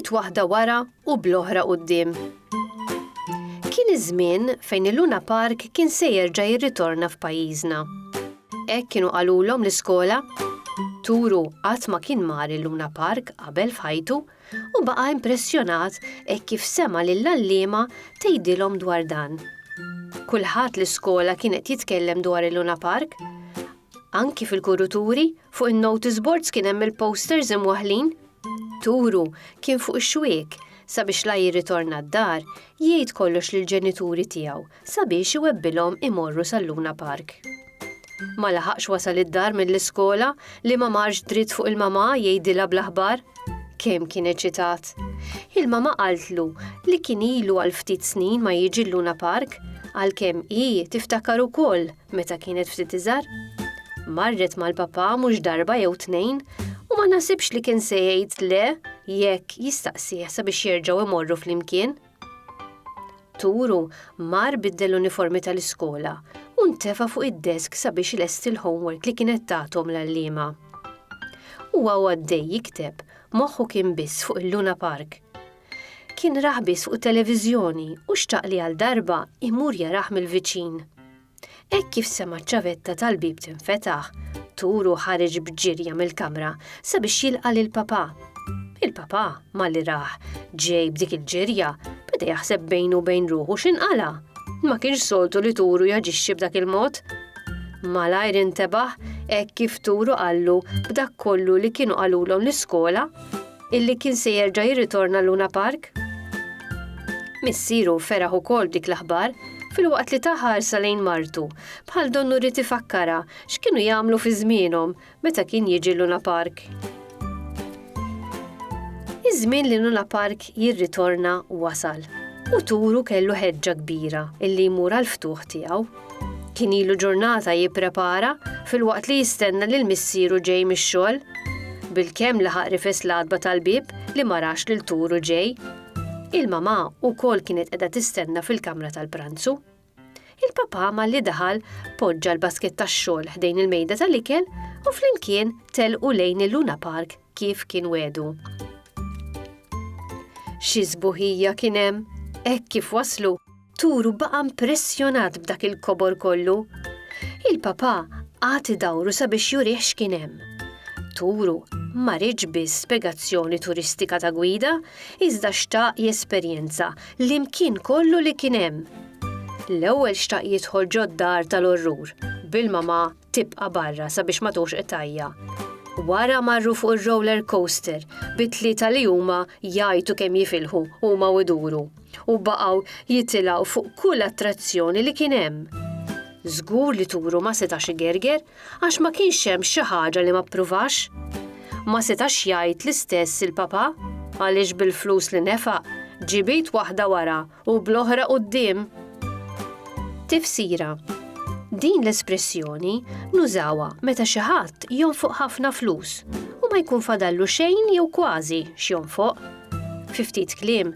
Bit waħda wara u bl-oħra quddiem. Kien iż-żmien fejn il-Luna Park kien se jerġa' jirritorna f'pajjiżna. Hekk kienu qalulhom l-iskola. Turu qatt ma kien mar il-Luna Park qabel f'ħajtu u baqa' impressjonat hekk kif sema' lill-għalliema tgħidilhom dwar dan. Kulħadd l-iskola kien qed jitkellem dwar il-Luna Park. Anki fil-kuruturi, fuq in-notice boards kien hemm il-posters imwaħħlin. Turu kien fuq ix-xwiek sabiex la jirritorna d-dar jgħid kollox lill-ġenituri tiegħu sabiex iwebbilhom imorru sal-Luna Park. Ma laħaqx wasal id-dar mill-iskola li ma marx dritt fuq il-mamà jgħidilha bl-aħbar. Kemm kien eċitat! Il-mamà qaltlu li kien ilu għal ftit snin ma jiġi l-Luna Park għalkemm hi tiftakar ukoll meta kienet ftit iżgħar. Marret mal-papà mhux darba jew tnejn u ma naħsibx li kien se jgħid le jekk jistaqsih sabiex jerġgħu imorru flimkien. Turu mar biddel l-uniformi tal-iskola u ntefa' fuq id-desk sabiex ilesti l-homework li kienet tagħthom l-għalliema. Huwa u għaddej jikteb, moħħu kien biss fuq il-Luna Park. Kien rah biss fuq it-televiżjoni u xtaq li għal darba imur jarah mill-viċin. Hekk kif sema' ċ-ċavetta tal-bieb tinfetaħ, Turu ħareġ b'ġirja mill-kamra sabiex jilqa' lil Papà. Il-Papà, malli rah ġej b'dik il-ġirja, beda jaħseb bejnu u bejn ruħu x'inqala'. Ma kienx soltu li Turu jaġixxi b'dak il-mod. Malajr intebaħ hekk kif Turu qallu b'dak kollu li kienu qalulhom l-iskola. Illi kien se jerġa' jirritorna Luna Park? Missieru feraħ ukoll dik l-aħbar filwaqt li ta' ħarsa lejn martu, bħal donnu rrid ifakkara x'kienu jagħmlu fi żmienhom meta kien jiġi Luna Park. Iż-żmien li Luna Park jirritorna wasal u turu kellu ħeġġa kbira illi jmur għal ftuħ tiegħu. Kien ilu ġurnata jipprepara filwaqt li jistenna lil missieru ġej mix-xogħol. Bil-kemm laħaq rifes l-għadba tal-bib li ma rax lil turu ġej. Il-mamà wkoll kienet qiegħda tistenna fil-kamra tal-pranzu. Il-papà malli daħal poġġa l-basket tax-xogħol ħdejn il-mejda tal-ikel u flimkien telqu lejn il-Luna Park kif kien wedu. Xi sbuħija kien hemm, hekk kif waslu, Turu baqa' impressjonat b'dak il-kobor kollu. Il-Papa għad idawru sabiex jurih x'kien hemm. Turu ma riedx biss spjegazzjoni turistika ta' gwida, iżda xtaq jesperjenza l-imkien kollu li kien hemm. L-ewwel xtaq jidħol ġod-dar tal-orrur, bil-mama tibqa' barra sabiex ma togħġ qtajja. Wara marru fuq ir-roller coaster bi tlieta li huma jgħajtu kemm jifilħu huma u jduru. u baqgħu jitilgħu fuq kull attrazzjoni li kien hemm. Żgur li turu ma setax igerger għax ma kienx hemm xi ħaġa li ma ppruvax. Ma setax jgħid l-istess il-Papa għaliex bil-flus li nefaq ġibit waħda wara u bl-oħra quddiem. Tifsira Din l-espressjoni nużawha meta xi ħadd jonfoq ħafna flus u ma jkun fadallu xejn jew kważi x'jonfoq. Fi ftit kliem,